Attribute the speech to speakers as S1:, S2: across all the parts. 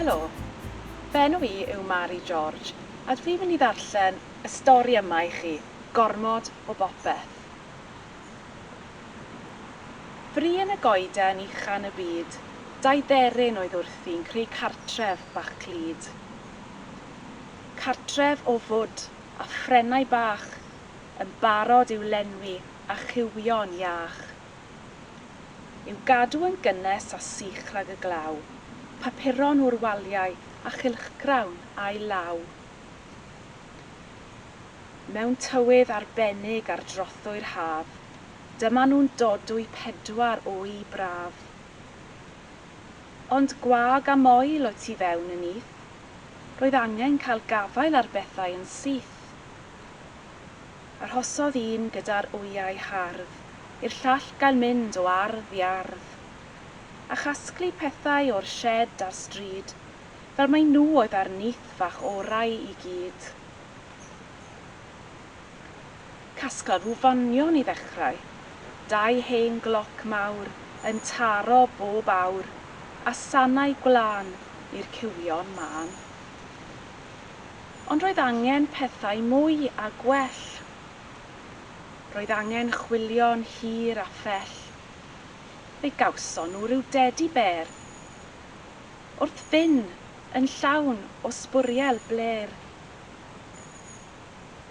S1: Helo, fy enw i yw Mari George a dw i'n mynd i ddarllen y stori yma i chi, Gormod o Bopeth. Fri yn y goeden uchan y byd, dau dderyn oedd wrthi'n creu cartref bach clyd. cartref o fwd a phrennau bach yn barod i'w lenwi â chywion iach. I'w gadw yn gynnes a sych rhag y glaw, papuron o'r waliau a chylchgrawn a'i law. Mewn tywydd arbennig ar drothwy'r haf, dyma nhw'n dodwy pedwar wy braf. Ond gwag a moel o tu fewn y nyth. Roedd angen cael gafael ar bethau yn syth. Arhosodd un gyda'r wyau hardd i'r llall gael mynd o ardd i ardd, a chasglu pethau o'r sied a'r stryd, fel mai nhw oedd â'r nyth fach orau i gyd. Casgla rhyw fanion i ddechrau. Dau hen gloc mawr yn taro bob awr a sanau gwlân i'r cywion mân. Ond roedd angen pethau mwy a gwell. Roedd angen chwilio'n hir a phell. Fe gawson nhw ryw dedi bêr. Wrth fyn' yn llawn o sbwriel blêr.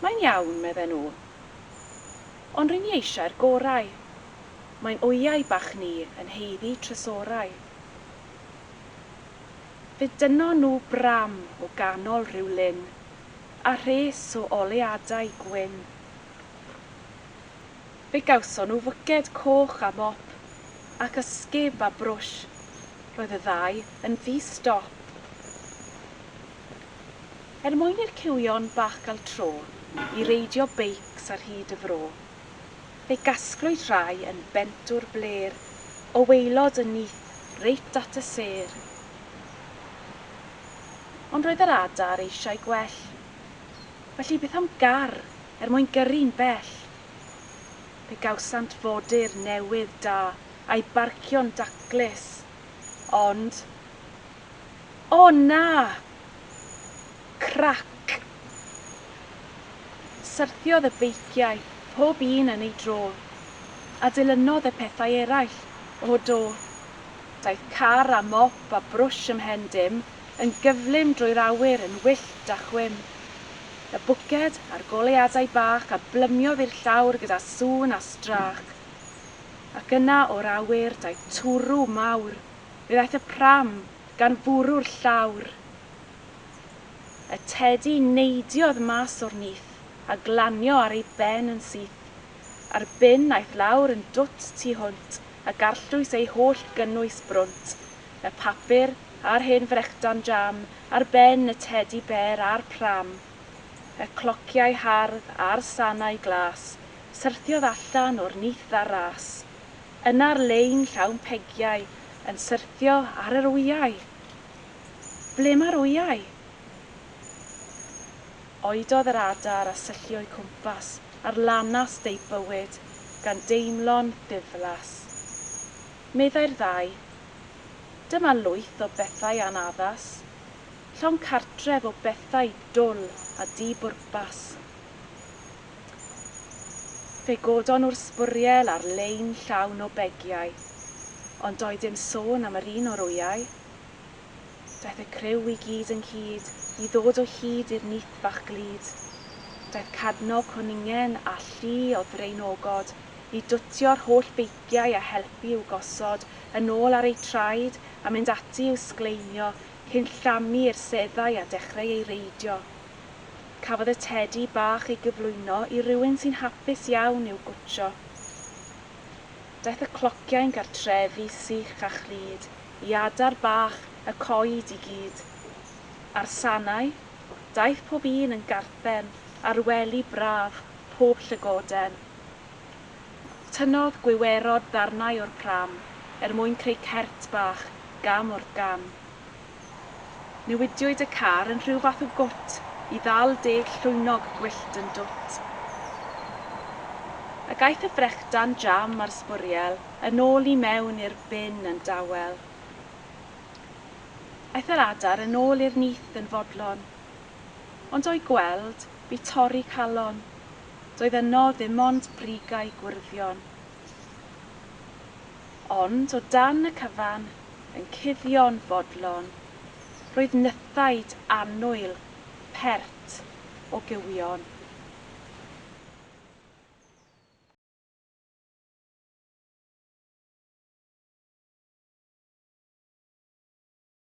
S1: Mae'n iawn, medden nhw. Ond ry'n ni eisiau'r gorau. Mae'n wyau bach ni yn haeddu trysorau. Fe dynnon nhw bram o ganol rhyw lyn, a rhes o oleadau gwyn. Fe gawson nhw fwced coch a mop, ac ysgub a brwsh, roedd y ddau yn ddi-stop. Er mwyn i'r cywion bach gael tro i reidio beics ar hyd y fro, fe gasglwyd rhai yn bent o'r blêr o waelod y nyth reit at y sêr. Ond roedd yr adar eisiau gwell, felly beth am gar er mwyn gyrru'n bell? Fe gawsant fodur newydd da a'i barcio'n daclus, ond O na! Crac! Syrthiodd y beiciau, pob un yn ei dro, a dilynodd y pethau eraill. O do! Daeth car â mop a brwsh ymhen dim, yn gyflym drwy'r awyr, yn wyllt a chwim. Y bwced a'r goleuadau bach a blymiodd i'r llawr gyda sŵn a strach. Ac yna o'r awyr daeth twrw mawr. Mi ddaeth y pram gan fwrw'r llawr. Y tedi neidiodd mas o'r nyth a glanio ar ei ben yn syth. A'r bin aeth lawr yn dwt tu hwnt a garllwys ei holl gynnwys brwnt, y papur a'r hen frechdan jam ar ben y tedi bêr a'r pram. Y clociau hardd a'r sanau glas syrthiodd allan o'r nyth ar ras. Yna'r lein llawn pegiau yn syrthio ar yr wyau. Ble mae'r wyau? Oedodd yr adar a syllu o'u cwmpas ar lanast eu bywyd gan deimlo'n ddiflas. Meddai'r ddau, Dyma lwyth o bethau anaddas. Llong cartref o bethau dwl a di-bwrpas. Fe godon nhw'r sbwriel ar lein llawn o begiau, ond doedd dim sôn am yr un o'r wyau. Daeth y criw i gyd ynghyd i ddod o hyd i'r nyth fach glyd. Daeth Cadno Cwningen â llu o ddraenogod i dwtio'r holl beiciau a helpu i'w gosod yn ôl ar eu traed a mynd ati i'w sgleinio cyn llamu i'r seddau a dechreu ei reidio. Cafodd y tedi bach ei gyflwyno i rywun sy'n hapus iawn i'w gwtsio. Daeth y clociau'n gartrefi sych a chlyd i adar bach y coed i gyd. A'r sanau? Daeth pob un yn garthen ar wely braf pob llygoden. Tynnodd gwiwerod ddarnau o'r pram er mwyn creu cert bach gam wrth gam. Newidiwyd y car yn rhyw fath o gwt i ddal deg llwynog gwyllt yn dwt. Ac aeth y frechdan jam a'r sbwriel yn ôl i mewn i'r bin yn dawel. Aeth yr adar yn ôl i'r nyth yn fodlon, ond o'i gweld bu torri calon, doedd yno ddim ond brigau gwrddion. Ond o dan y cyfan, yn cuddio'n fodlon, roedd nythaid annwyl pert o gywion.